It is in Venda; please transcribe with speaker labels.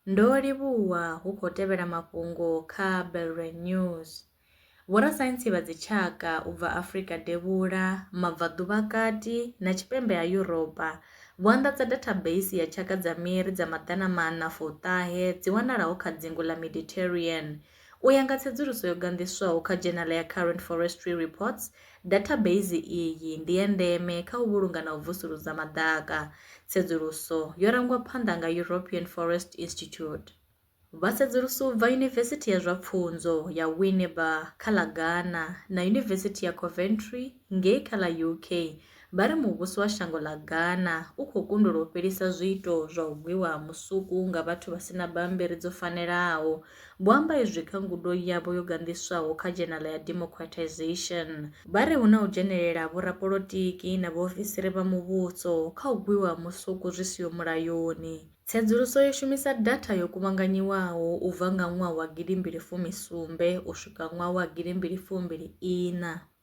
Speaker 1: Ndo livhuwa hu khou tevhela mafhungo kha Belre News. Vhorasaintsi vha dzitshaka u bva Afrika Devhula, Mabvaḓuvha Kati na Tshipembe ha Yuropa vho anḓadza dathabeisi ya tshaka dza miri dza maḓana maṋa fuṱahe dzi wanalaho kha dzingu ḽa Mediterranean U ya nga tsedzuluso yo ganḓiswaho kha dzhenala ya Current Forestry Reports, dathabeisi iyi ndi ya ndeme kha u vhulunga na u vusuludza maḓaka. Tsedzuluso yo rangwa phanḓa nga European Forest Institute. Vhasedzulusi u bva Yunivesithi ya zwa Pfunzo ya Winneba kha ḽa Ghana na Yunivesithi ya Coventry ngei kha ḽa UK vha ri muvhuso wa shango ḽa Ghana u khou kundelwa u fhelisa zwiito zwa u gwiwa ha musuku nga vhathu vha si na bammbiri dzo fanelaho. Vho amba izwi kha ngudo yavho yo ganḓiswaho kha dzhenala ya Democratisation. Vha ri hu na u dzhenelela ha vhorapolotiki na vhaofisiri vha muvhuso kha u gwiwa ha musuku zwi siho mulayoni. Tsedzuluso yo shumisa datha yo kuvhanganyiwaho u bva nga ṅwaha wa gidi mbili fumi sumbe u swika ṅwaha wa gidi mbili fumbili iṋa.